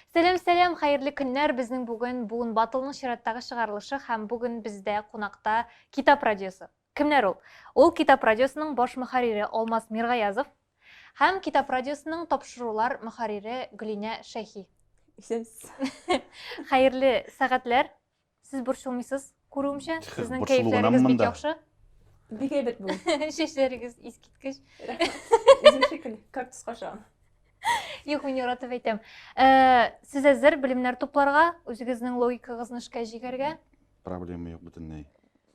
Сәлам, сәлам, хәерле көннәр. Безнең бүген Буын Батылның чираттагы чыгарылышы һәм бүген бездә кунакта Китап радиосы. Кемнәр ул? Ул Китап радиосының баш мөхәррире Алмаз Миргаязов һәм Китап радиосының тапшырулар мөхәррире Гөлинә Шәйхи. Исәнсез. Хәерле сәгатьләр. Сез борчылмыйсыз, күрүемчә, сезнең кәефләрегез бик яхшы. Бик әйбәт бу. Чәчләрегез искиткеч. Үзем шикелле, кактус каша. Юк, мин яратып әйтәм. Э, сез әзер белемнәр тупларга, үзегезнең логикагызны эшкә җигәргә? Проблема юк бөтенләй.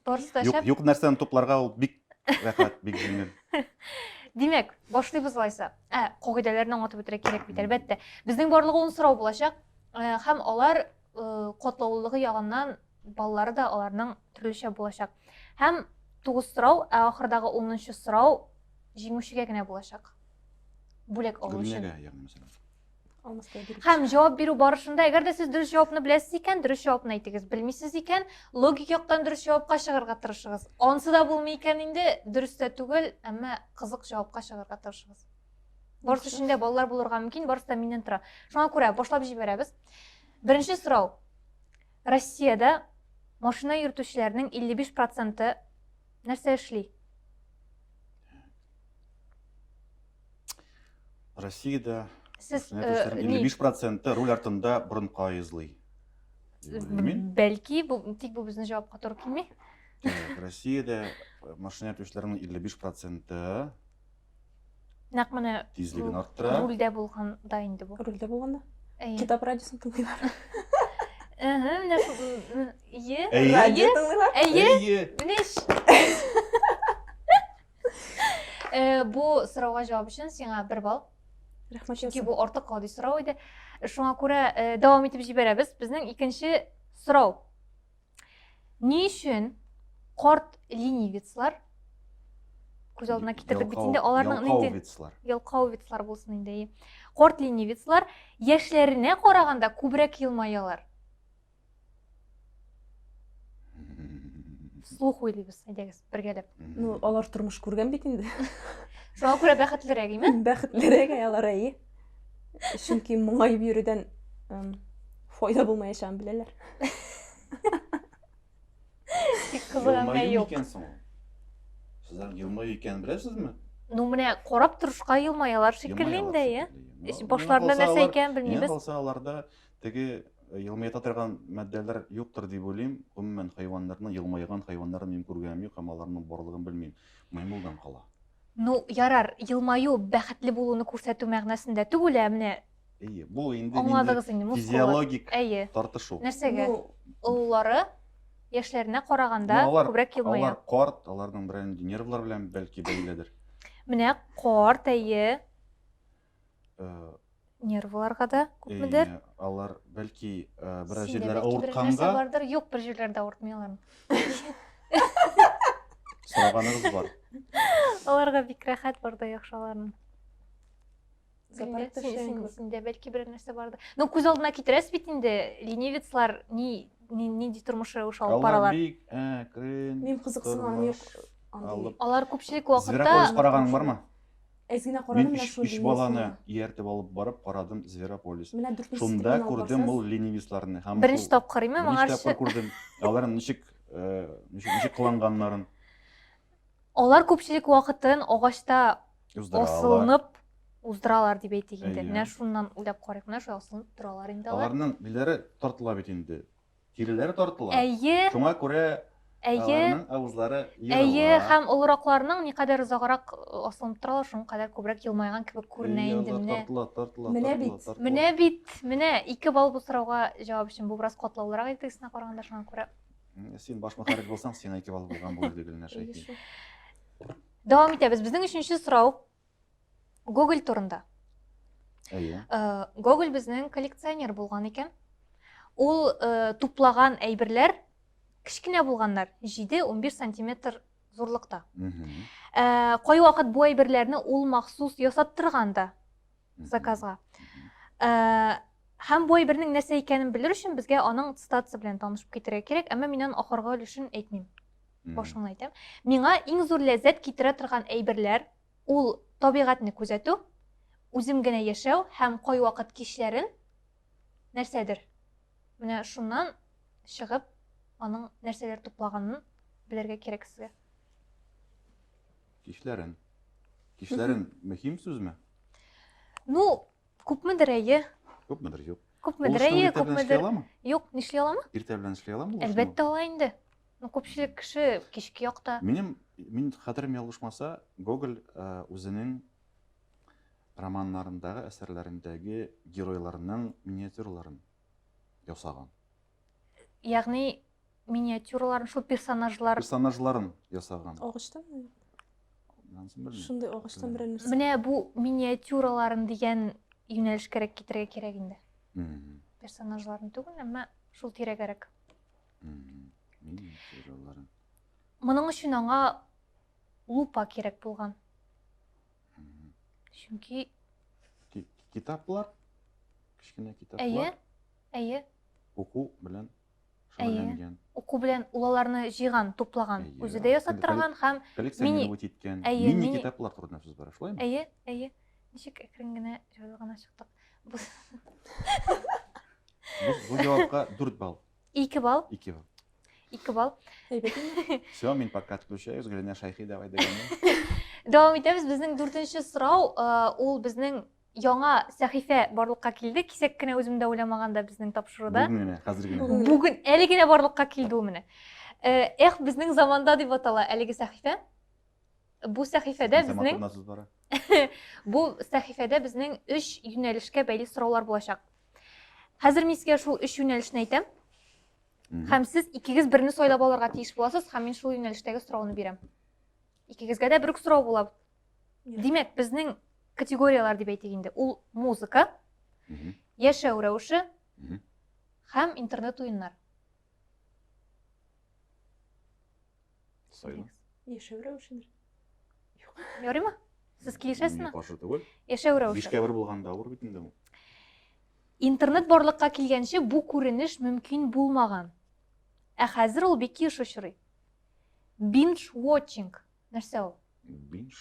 Барысы да шәп. Юк нәрсәне тупларга ул бик рәхәт, бик җиңел. Димәк, башлыйбыз алайса. Ә, кагыйдәләрне аңлатып үтәргә кирәк бит, әлбәттә. Безнең барлыгы ун сорау булачак. Э, һәм алар э, катлаулылыгы ягыннан баллары да аларның төрлечә булачак. Һәм тугыз сорау, ә ахырдагы унынчы сорау җиңүчегә генә булачак. Бүләк алу өчен. Гөлнәгә, ягъни, мәсәлән. һәм җавап бирү барышында әгәр дә сез дөрес җавапны беләсез икән дөрес җавапны әйтегез белмисез икән логик яктан дөрес җавапка чыгарга тырышыгыз ансы да булмый икән инде дөрес тә түгел әмма кызык җавапка чыгарга тырышыгыз барысы өчен дә балалар булырга мөмкин барысы да миннән тора шуңа күрә башлап җибәрәбез беренче сорау россиядә машина йөртүчеләрнең 55 проценты нәрсә эшли Россиядә Сез э, ни? 55 проценты руль артында борын каезлый. Бәлки, бу, тик бу безнең җавапка туры килми. Так, Россиядә э, машина йөртүчеләрнең 55 проценты Нәкъ менә тизлеген бу арттыра. рульдә булганда инде бу. Рульдә булганда. Әйе. Китап радиосын тыңлыйлар. Әһә, менә Әйе. Радио тыңлыйлар. Әйе. Әйе. Менә Э, бу сорауга җавап өчен сиңа бер балл. Рәхмәт. Чөнки бу артык гади сорау иде. Э, шуңа күрә э, дәвам итеп җибәрәбез. Безнең икенче сорау. Ни өчен корт ленивецлар күз алдына китердек бит инде аларның инде ялкаувицлар булсын инде корт ленивецлар яшьләренә караганда күбрәк елмаялар слух уйлыйбыз әйдәгез бергәләп ну алар тормыш күргән бит инде шуңа күрә бәхетлерәк име бәхетлерәк алар әйе чөнки моңаеп йөрүдән файда булмаячагын беләләр тик кызганмай юк сезләр елмаю икәнен беләсезме ну менә карап торышка елмаялар шикелле инде әйе башларында нәрсә икәнен белмибез калса аларда Теге елмаята торган матдәләр юктыр дип уйлыйм. Гомумән, хайваннарның елмайган хайваннарын мин күргәнем юк һәм аларның барлыгын белмим. Маймылдан кала. Ну, ярар, елмаю бәхетле булуны күрсәтү мәгънәсендә түгел, ә менә Әйе, бу инде Аңладыгыз инде, мускуллар. Физиологик Әйе. тартышу. Нәрсәгә? Ну, олылары яшьләренә караганда ну, алар, күбрәк елмая. Алар карт, аларның берәр нервлар белән бәлки бәйледер. Менә карт, әйе. э, нервларга да күпмедер э, алар бәлки э, бераз җирләре авыртканга бардыр юк бер җирләрдә авыртмый алар сораганыгыз бар аларга бик рәхәт барда яхшы аларның синдә бәлки бер нәрсә бардыр ну күз алдына китерәсез бит инде ленивецлар ни нинди тормыш рәвеше алып баралар бик әкрен мин кызыксынам алар күпчелек вакытта зверополис караганың бармы Әз генә карадым, менә шул линиясен. Мин өч баланы ияртеп алып барып карадым Зверополис. Менә дүртенче Шунда күрдем ул ленивистларны. Беренче тапкыр име, моңарчы? Беренче тапкыр күрдем. Алар ничек, э, ничек, ничек кыланганнарын. Алар күпчелек вакытын агачта асылынып уздыралар дип әйтик инде. Менә шуннан уйлап карыйк, менә шулай асылынып торалар инде алар. Аларның биләре тартыла бит инде. Киреләре тартыла. Әйе. Шуңа күрә Әйе. аларның авызлары ерыла. Әйе, һәм олыракларның никадәр озаграк асылынып торалар, шуның кадәр күбрәк елмайган кебек күренә инде менә. Тартыла, тартыла, менә бит. Менә бит, менә ике балл бу сорауга җавап өчен. Бу бераз катлаулырак иде тегесенә караганда, шуңа күрә. Син баш мөхәррир булсаң, сиңа ике балл булган булыр иде, Гөлнәш әйтми. Дәвам итәбез. Безнең өченче сорау. Гоголь турында. Әйе. Э, Гоголь безнең коллекционер булган икән. Ул э, туплаган әйберләр кечкенә булганнар, 7-11 сантиметр зурлыкта. Э, Кай вакыт бу әйберләрне ул махсус ясаттырган да заказга. Һәм бу әйбернең нәрсә икәнен белер өчен безгә аның цитатасы белән танышып китәргә кирәк, әмма мин аның ахыргы өлешен әйтмим. башыңны әйтәм миңа иң зур ләззәт китерә торган әйберләр ул табигатьне күзәтү үзем генә яшәү һәм кайвакыт кичләрен нәрсәдер менә шуннан чыгып аның нәрсәләр туплаганын белергә кирәк сезгә кичләрен кичләрен мөһим сүзме ну күпмедер әйе күпмедер юк күпмедер әйе күпмедер юк нишли аламы иртә белән эшли аламы әлбәттә ала инде Ну, күпчелек кеше кичке якта. Минем, мин хәтерем ялгышмаса, Гоголь үзенең романнарындагы, әсәрләрендәге геройларның миниатюраларын ясаган. Ягъни миниатюраларын, шул персонажлар. Персонажларын ясаган. Агачтан Шундый агачтан берәр нәрсә. Менә бу миниатюраларын дигән юнәлешкәрәк китерергә кирәк инде. Персонажларын түгел, әмма шул тирәгәрәк. Моның өчен аңа лупа кирәк булган. Чөнки китаплар, кечкенә китаплар. Әйе, әйе. Уку белән шөгыльләнгән. Уку белән ул аларны җыйган, туплаган, үзе дә ясап торган һәм мини иткән. Мини китаплар турында сүз бара, шулаймы? Әйе, әйе. Ничек әкрен генә җайлы гына чыктык. Бу җавапка 4 балл. Ике балл. Ике балл. Ике балл. Все, мин пока отключаюсь, Гүләнә Шайхи, давай дәвам. Дәвам итәбез. Безнең дүртенче сорау, ул безнең яңа сәхифә барлыкка килде. Кисәк кенә үзем дә уйламаганда безнең тапшыруда. Бүген генә, хәзер генә. Бүген әле генә барлыкка килде ул менә. Эх, безнең заманда дип атала әлеге сәхифә. Бу сәхифәдә безнең Бу сәхифәдә безнең өч юнәлешкә бәйле сораулар булачак. Хәзер мин сезгә шул өч юнәлешне әйтәм. Һәм сез икегез берне сайлап алырга тиеш буласыз, һәм мин шул юнәлештәге сорауны бирәм. Икегезгә дә бер үк сорау була. Димәк, безнең категорияләр дип әйтик инде, ул музыка, яшәү рәвеше һәм интернет уеннар. Сайлы. Яшәү рәвешендер. Юк. Ярыймы? Сез килешәсезме? Каршы түгел. Яшәү рәвеше. Бишкә бер булганда авыр бит инде ул. Интернет барлыкка килгәнче бу күренеш мөмкин булмаган. Ә хәзер ул бик еш очрый. Binge watching нәрсә ул? Binge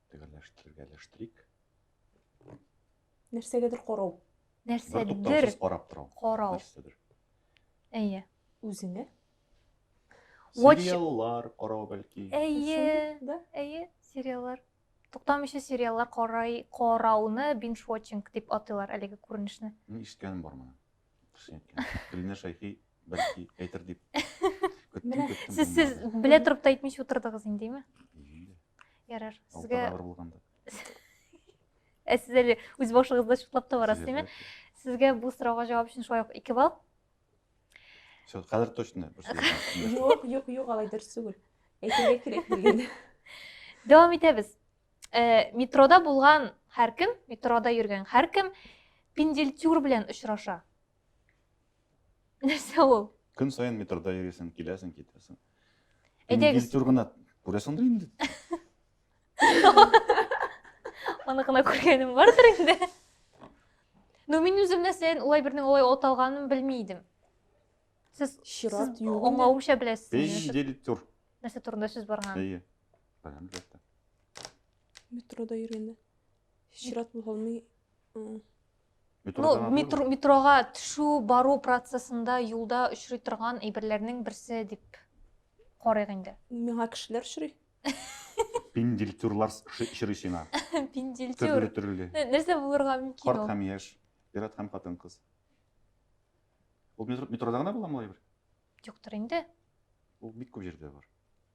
Төгәлләштерергә ләштерик. Нәрсәгәдер карау. Нәрсәдер карап тору. Карау. Нәрсәдер. Әйе. Үзеңә? Сериаллар карау бәлки. Әйе. Да? Әйе, сериаллар. Туктамыйча сериаллар карай, карауны binge watching дип атыйлар әлеге күренешне. Мин ишеткәнем бар моны. Гөлнә Шәйхи бәлки әйтер дип көттем, көттем. Сез сез белә торып та әйтмичә утырдыгыз индеме? Ярар. Сезгә авыр булганда. Ә сез әле үз башыгызда чутлап та барасыз, димме? Сезгә бу сорауга җавап өчен шулай ук 2 балл. Все, хәзер точно. Юк, юк, юк, алай дөрес түгел. Әйтергә кирәк дигән. Дәвам итәбез. Э, метрода булган һәркем, метрода йөргән һәркем пенделтюр белән очраша. Нәрсә ул? Көн саен метрода йөрисең, киләсең, китәсең. Әйдәгез. Пенделтюр гына күрәсеңдер инде. Аны гына күргәнем бардыр инде. Ну, мин үзем нәрсәен улай бернең улай от алганын белми идем. Сез чират юк. Аңлавымча беләсез. Пенделтюр. Нәрсә турында сүз барган? Әйе. Баян бирде. Метрода йөргәндә. Чират була алмый. М. Ну, Метрода метро, метроға төшү, бару процессында юлда очрый торган әйберләрнең берсе дип карыйк инде. Миңа кешеләр очрый. Пиндильтюрлар ши- очрый сиңа. Пиндильтюр. Төрле төрле. Нә- Нәрсә булырга мөмкин Карт ул? һәм яшь, ир-ат һәм хатын-кыз. Ул метро- метрода гына буламы ул әйбер? Юктыр инде. Ул бик күп җирдә бар.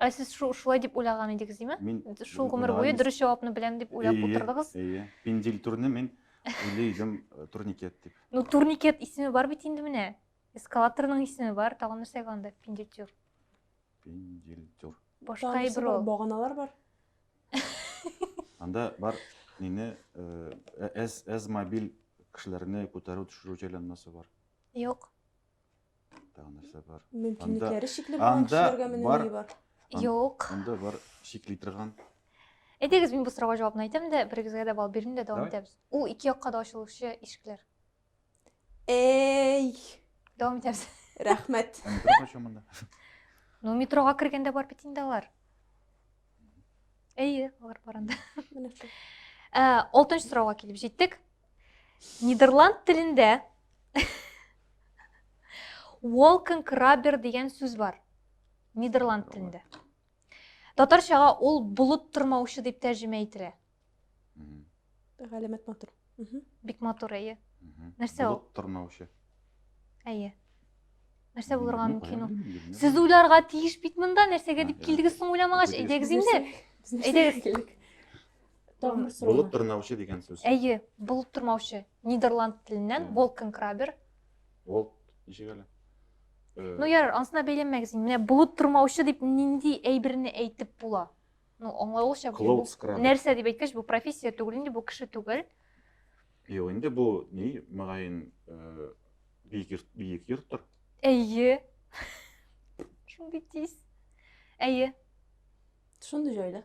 Ә сез шу, шулай дип уйлаган идегез, димме? Мин шул гомер буе дөрес җавапны беләм дип уйлап утырдыгыз? Әйе, пендил турны мин уйлый идем э, турникет дип. Ну, турникет исеме бар бит инде менә. Эскалаторның исеме бар, тагын нәрсә анда? Пендил тур. Пендил тур. Башка әйбер ул. Баганалар бар. Анда бар нини э, э, әз әз мобиль кешеләрне күтәрү төшерү җайланмасы бар. Юк. Тагы нәрсә бар? Мөмкинлекләре чикле булган анда кешеләргә менә бар. ни бар? Ан- Юк. Анда бар чикли торган. Әйдәгез, мин бу сорауга җавапны әйтәм дә, берегезгә дә балл бирим дә дәвам Давай. итәбез. Ул ике якка да ачылучы ишекләр. Эй, Дәвам итәбез. рәхмәт. Ә метро кайчан монда? Ну, метрога кергәндә бар бит инде алар. Әйе, алар бар анда. Менә шул. Ә, Алтынчы сорауга килеп җиттек. Нидерланд телендә Wolkenkrabber дигән сүз бар. Нидерланд телендә. Татарчага ул булып тормаучы дип тәрҗемә ителә. Галәмәт матур. Бик матур, әйе. Нәрсә ул? Булып тормаучы. Әйе. Нәрсә булырга мөмкин ул? Сез уйларга тиеш бит монда, нәрсәгә дип килдегез соң уйламагач, әйдәгез инде. Әйдәгез. Тамыр срогы. Булып тырнаучы дигән сүз. Әйе, булып тормаучы. Нидерланд теленнән Мгм. Волкенкрабер. Ол ничек әле? Э, Ну ярар, ансына бәйләнмәгез. инде. Менә булып тормаучы дип нинди әйберне әйтеп була? Ну, аңлавылча бу Клоуд скраб. нәрсә дип әйткәч, бу профессия түгел инде, бу кеше түгел. Юк, инде бу ни, мөгаен, э, биек йорт, биек йорттыр. Әйе. Шундый тиз. Әйе. Шундый җайда.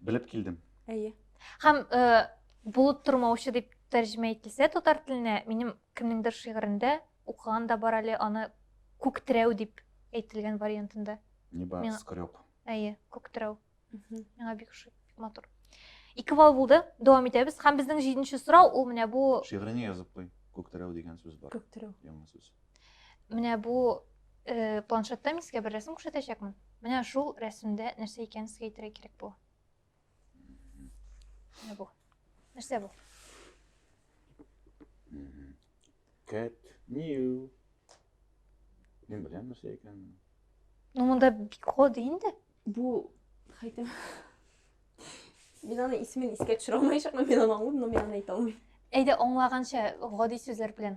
Белеп килдем. Әйе. Һәм э, булып тормаучы дип тәрҗемә ителсә татар теленә, минем кемнеңдер шигырендә укыган да бар әле аны күктерәү дип әйтелгән вариантында. Нибар Мин... скреп. Әйе, күктерәү. Миңа бик ошый, бик матур. Ике балл булды. Дәвам итәбез. Һәм безнең җиденче сорау ул менә бу. Шигыреңә язып куй. Күктерәү дигән сүз бар. Күктерәү. Яңа сүз. Менә бу э, планшетта мин сезгә бер рәсем күрсәтәчәкмен. Менә шул рәсемдә нәрсә икәнен сезгә әйтергә кирәк бу. Менә бу. Нәрсә бу? Cat new. Мин беләм нәрсә икәнен. Ну монда бик ходы инде. Бу хәйтем. Мин аны исемен искә төшерә алмаячакмын, мин аны аңлыйм, но мин аны әйтә алмыйм. Әйдә аңлаганча гади сүзләр белән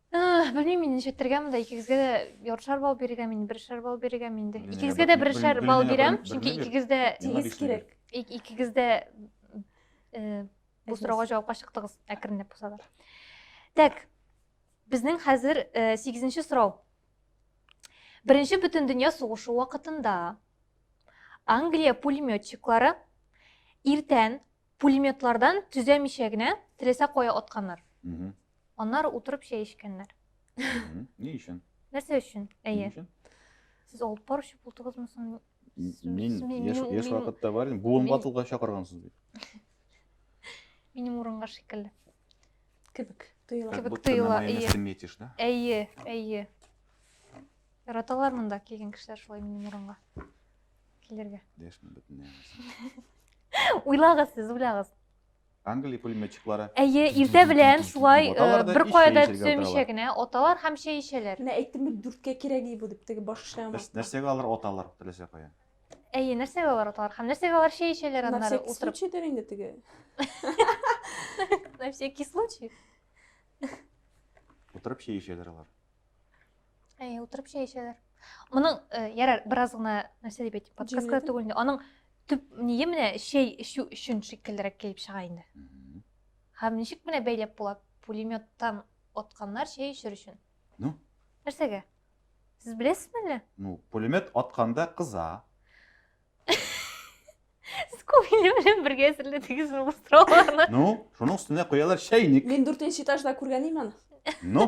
белмим инде ничек итергә монда икегезгә дә ярышар балл бирергәме инде берешәр балл бирергәме инде икегезгә дә берешәр балл бирәм чөнки икегез дә тигез кирәк икегез дә бу сорауга җавапка чыктыгыз әкренләп булса да так безнең хәзер сигезенче сорау беренче бөтен дөнья сугышы вакытында англия пулеметчиклары иртән Пулеметлардан төзәмичә генә теләсә кая атканнар. Аннары утырып чәй эчкәннәр. Ни өчен? Нәрсә өчен? Әйе. Сез алып баручы булдыгызмы соң? Мин яшь вакытта бар идем. Буын ватылга чакыргансыз бит. Минем урынга шикелле. Кебек тоела. Кебек тоела. Ты метишь, да? Әйе, әйе. Яраталар монда килгән кешеләр шулай минем урынга. килергә. Дәшми бөтенләй. Уйлагыз сез, уйлагыз. Англия пулеметчиклары. Әйе, иртә белән шулай э, бер кайда төшемичә генә оталар һәм чәй ичәләр. Менә әйттем бит, дүрткә кирәк бу дип, теге баш эшләгән. Нәрсәгә алар оталар, теләсә кая? Әйе, нәрсәгә алар оталар һәм нәрсәгә алар чәй ичәләр аннары утырып? На всякий случай дер инде теге. На всякий случай. Утырып чәй ичәләр алар. Әй, утырып чәй эчәләр. Моның э, ярар бераз гына нәрсә дип әйтим, подсказка түгел инде. Аның төп ние менә чәй эчү өчен шикеллерәк килеп чыга инде. Һәм ничек менә бәйләп була? Пулеметтан атканнар чәй эчер өчен. Ну? Нәрсәгә? Сез беләсезме әллә? Ну, пулемет атканда кыза. Сез күңеле белән бергә әзерләдегез ул островларны. Ну, шуның өстенә куялар чәйник. Мин дүртенче этажда күргән идем аны. Ну?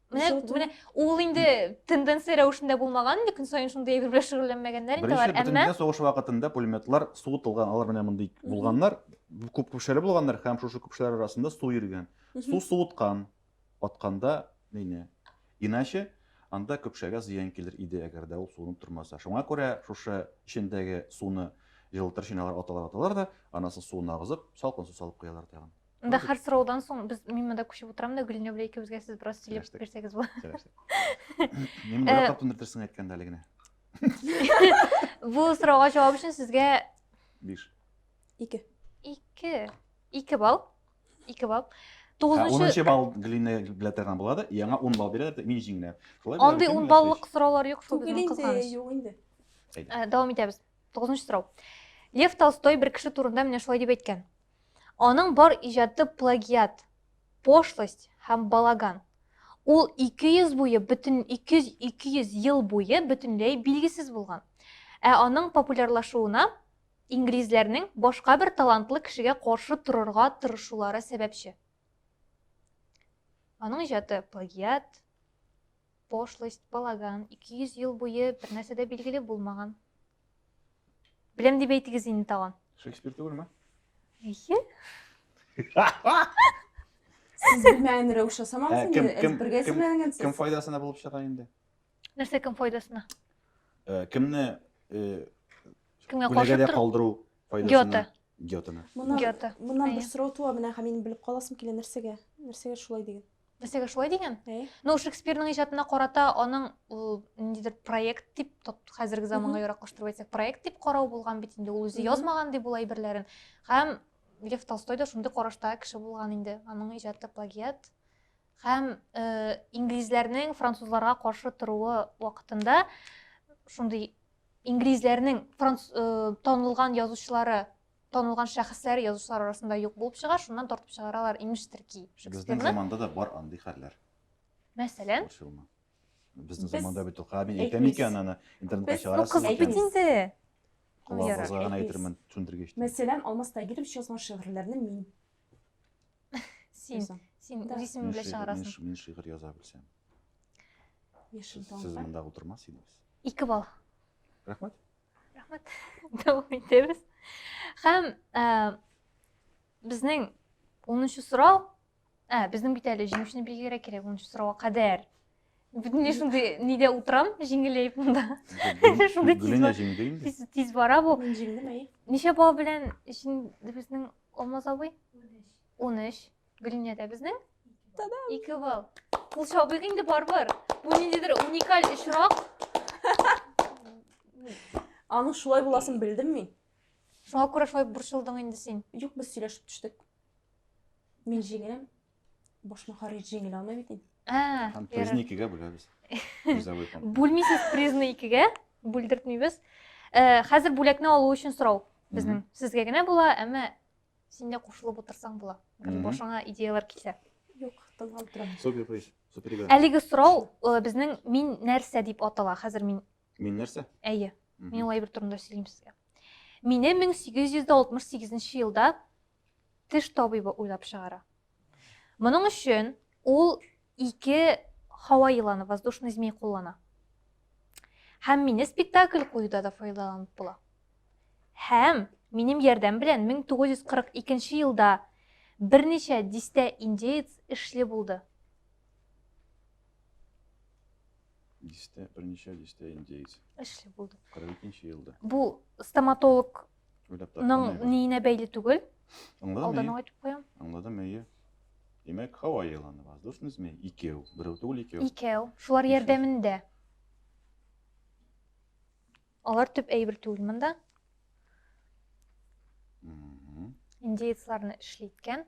Менә, Үзгәртү. менә ул инде тенденция рәвешендә булмаган, инде көн саен шундый әйбер белән шөгыльләнмәгәннәр инде Беренче алар. Әмма бөтендөнья сугышы вакытында пулеметлар суытылган, алар менә мондый Мгм. булганнар, күп көпшәле булганнар һәм шушы көпшәләр арасында су йөргән. Мгм. Су суыткан, атканда мине. Иначе анда көпшәгә зыян килер иде, әгәр дә ул суынып тормаса. Шуңа күрә шушы эчендәге суны җылытыр чиналар аталар аталар да, анасын суын агызып, салкын су салып куялар тагын. Анда Андык. хәр сораудан соң без мин монда күчеп утырам да Гөлинә белән икебезгә сез бераз сөйләп Сөйләштек. бирсәгез була. Сөйләштек. Мин Э, яратып тындыртырсың әйткәндә әле генә. Бу сорауга җавап өчен сезгә Биш. Ике. ике ике балл. Ике балл. Ә, Тугызынчы Унынчы балл Глинә билетердан була да, яңа ун балл бирә дә, мин җиңдем. Шулай була андый микән, ун милләт баллык сораулар юк шул Түгел безнең инде, кызганыч. юк инде. Ә, Дәвам итәбез. Тугызынчы сорау. Лев Толстой бер кеше турында менә шулай дип әйткән. Аның бар иҗаты плагиат, пошлость һәм балаган. Ул 200 буе бөтен 200 200 ел буе бөтенләй билгесез булган. Ә аның популярлашуына инглизләрнең башка бер талантлы кешегә каршы торырга тырышулары сәбәпче. Аның иҗаты плагиат, Пошлость, балаган, 200 ел буе бернәрсә дә билгеле булмаган. Беләм дип әйтегез инде тагын. Шекспир түгелме? Әйе. Сез белмәгән рәвешле самагыз инде, әзбергә серләнгән сез. Кем файдасына булып чыга инде? Нәрсә кем файдасына? Кемне кемгә каршы калдыру файдасына? Гёте. Гётены. Моннан, Гёте. Моннан бер сорау туа, менә һәм минем белеп каласым килә, нәрсәгә? Нәрсәгә шулай диген? Нәрсәгә шулай диген? Әйе. Ну, Шекспирның иҗатына карата аның ул ниндидер проект дип, хәзерге заманга яраклаштырып әйтсәк, проект дип карау булган бит инде. Ул үзе язмаган дип ул әйберләрен. Һәм Лев Толстой да шундый карашта кеше булган инде. Аның иҗаты плагиат, һәм э, инглизләрнең французларга каршы торуы вакытында шундый Инглизләрнең франц э, танылган язучылары, танылган шәхесләре язучылар арасында юк булып чыга, шуннан тартып чыгаралар имеш терки Безнең заманда да бар андый хәлләр. Мәсәлән, Безнең заманда бит укыга мин әйтәм икән аны интернетка чыгарасыз. Кызык бит инде. Колагыгызга гына әйтермен, төшендергеч. Мәсәлән, Алмаз Тагиров язган шигырьләрне мин Син, син үз исемең белән чыгарасың. Мин шигырь яза белсәм. Яшел тау. Сез монда утырмас идегез. Ике бал. Рәхмәт. Рәхмәт. Дәвам итәбез. Һәм э, безнең 10 сорау, ә, безнең бит әле җиңүчене билгеләргә кирәк 10 сорауга кадәр. Бүтүнлөй шундый нидә утрам, җиңеләеп монда. Шундый тиз бар. Тиз, тиз бара бу. Мин җиңдем, әй. Ничә бала белән җиң безнең Алмаз абый? 13. Гөлинә дә безнең? Тадам. 2 балл. Ул шабыйк инде барбыр. Бу ниндидер уникаль очрак. Аның шулай буласын белдем мин. Шуңа күрә шулай борчылдың инде син. Юк, без сөйләшеп төштек. Мин җиңәм. Баш мөхәррир җиңел алмый бит инде. Ә, Һәм призны икегә бүләбез. Призовой фонд. Бүлмисез призны икегә, бүлдертмибез. Э, хәзер бүләкне алу өчен сорау безнең. Сезгә генә була, әмма син дә кушылып утырсаң була. Башыңа идеялар килсә. Юк, тыңлап торам. Супер призы. Әлеге сорау э, безнең мин нәрсә дип атала. Хәзер мин Мин нәрсә? Әйе. Мин ул әйбер турында сөйлим сезгә. Мине 1868 елда теш табибы уйлап чыгара. Моның өчен ул ике һава еланы, воздушный змей куллана. Һәм мине спектакль куюда да файдаланып була. Һәм минем ярдәм белән 1942 елда берничә дистә индеец эшле булды. Дистә, берничә дистә индеец. Эшли булды. 42 елда. Бу стоматолог Ның ниенә бәйле түгел. Алдан ук әйтеп куям. Аңладым, әйе. Димәк, һава еланы, воздушный змей, икәү, берәү түгел, икәү. Икәү, шулар ярдәмендә. Алар төп әйбер түгел монда. Индеецларны эшли иткән.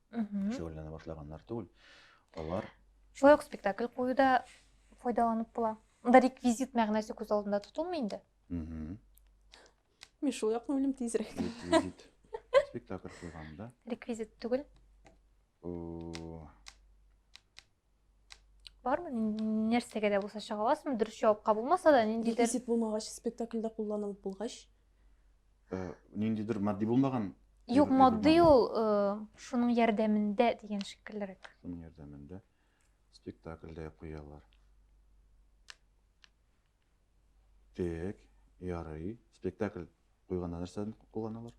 шөгыльләнә башлаганнар түгел. Алар Шулай ук спектакль куюда файдаланып була. Монда реквизит мәгънәсе күз алдында тотылмый инде. Мин шул якны уйлыйм тизрәк. Реквизит. Спектакль куйганда. Реквизит түгел. бармы нәрсәгә дә булса чыга аласызмы дөрес җавапка булмаса да ниндидер реквизит булмагач спектакльдә кулланылып булгач э, ниндидер матди булмаган юк матди ул э, шуның ярдәмендә дигән шикеллерәк шуның ярдәмендә спектакльдә куялар так ярый спектакль куйганда нәрсәне кулланалар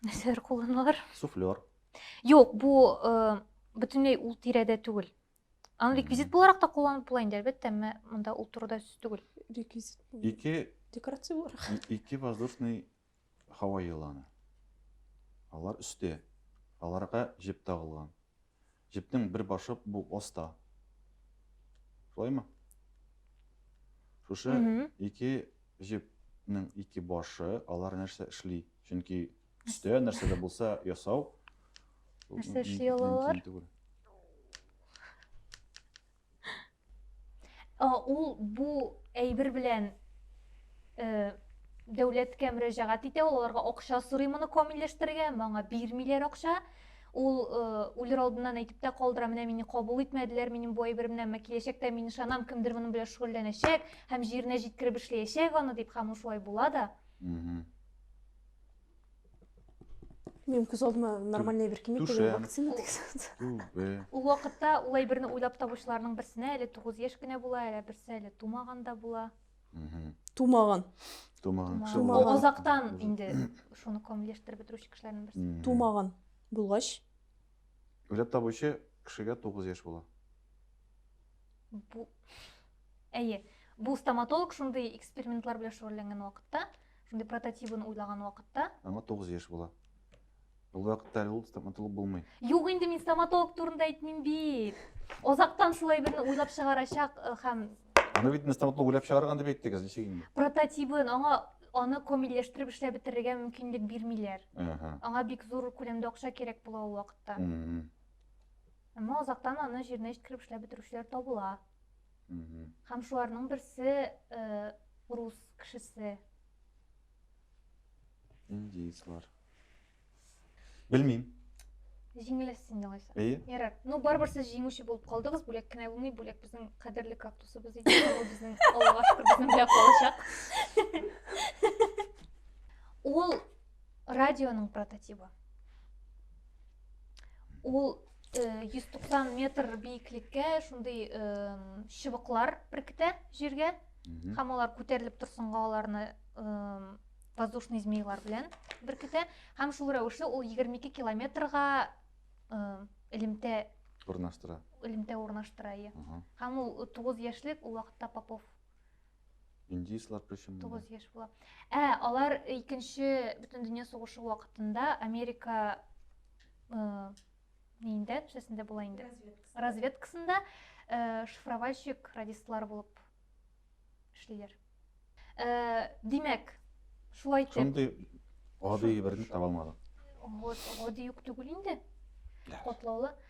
нәрсәләр кулланалар суфлер юк бу э, бөтенләй ул тирәдә түгел аны реквизит буларак та кулланып була инде әлбәттә әмма монда ул турыда сүз түгел реквизит ике декорация буларак ике воздушный һава еланы алар өстә аларга җеп тагылган Җепнең бер башы бу оста. Шулаймы? Шушы ике җепнең ике башы, алар нәрсә эшли? Чөнки өстә нәрсә дә булса ясау. Нәрсә эшли алалар? Ул бу әйбер белән дәүләткә мөрәҗәгать итә, ул аларга акча сорый моны камилләштерергә, моңа бирмиләр акча. Ул үлер алдыннан әйтеп тә калдыра, менә мине кабул итмәделәр, минем бу әйберемнән мә киләчәктә мин ышанам, кемдер моның белән шөгыльләнәчәк һәм җиренә җиткереп эшләячәк аны дип, һәм ул шулай була да. Мен күз алдыма нормальный бер кимек түшәм. дигән вакцина дигән. Ул вакытта ул әйберне уйлап табучыларның берсенә әле 9 яшь кенә була, әле берсе әле тумаган да була. Тумаган. Тумаган. Тумаган. Азактан инде шуны камилләштереп бетерүче кешеләрнең берсе. Тумаган булгач. Уйлап табучы кешегә 9 яшь була. Бу Әйе. Бу стоматолог шундый экспериментлар белән шөгыльләнгән вакытта Шундый прототибын уйлаган вакытта. Аңа 9 яшь була. Ул вакытта әле ул стоматолог булмый. Юк инде мин стоматолог турында әйтмим бит. Озактан шулай берне уйлап чыгарачак э, һәм Аны бит стоматолог уйлап чыгарган дип әйттегез, ничек инде? Прототибын аңа аны комилләштереп эшләп бетерергә мөмкинлек бирмиләр. Аңа бик зур күләмдә акча кирәк була ул вакытта. Әмма озактан аны җиренә җиткереп эшләп бетерүчеләр табыла. Һәм шуларның берсе рус кешесе. Индейцлар. Белмим. Җиңеләс син алайса. Әйе. Ярар. Ну, барыбер сез җиңүче булып калдыгыз. Бүләк кенә булмый, бүләк безнең кадерле кактусыбыз иде. Ул безнең Аллага шөкер безнең белән калачак. Ул радионың прототипы. Ул 190 э, метр биеклеккә шундый э, чыбыклар беркетә җиргә һәм алар күтәрелеп торсынга аларны э, воздушный змейлар белән беркетә һәм шул рәвешле ул 22 километрга элемтә урнаштыра элемтә урнаштыра һәм ул 9 яшьлек ул вакытта попов Индийцлар причем. 9 яшь була. Ә алар икенче бөтен дөнья сугышы вакытында Америка э, нинде, шәсендә була инде. Разведкасында э, шифровальщик радистлар булып эшлиләр. Э, димәк, шулай итеп. Шундый гади берне таба алмадым. Вот, гади юк түгел инде. Котлаулы.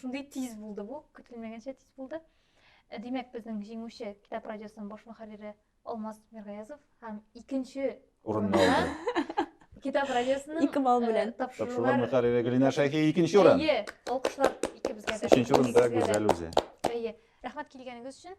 Шундый тиз булды бу, көтелмәгәнчә тиз булды. Э, димәк, безнең җиңүче китап радиосының баш мөхәррире Алмаз Миргаязов һәм икенче урынны алды. Китап радиосының ике балл э, белән тапшырулар мөхәррире Гөлинә Шәйхи икенче урын. Әйе, алкышлар икебезгә дә. Өченче урында Гүзәл үзе. Әйе. Рәхмәт килгәнегез өчен.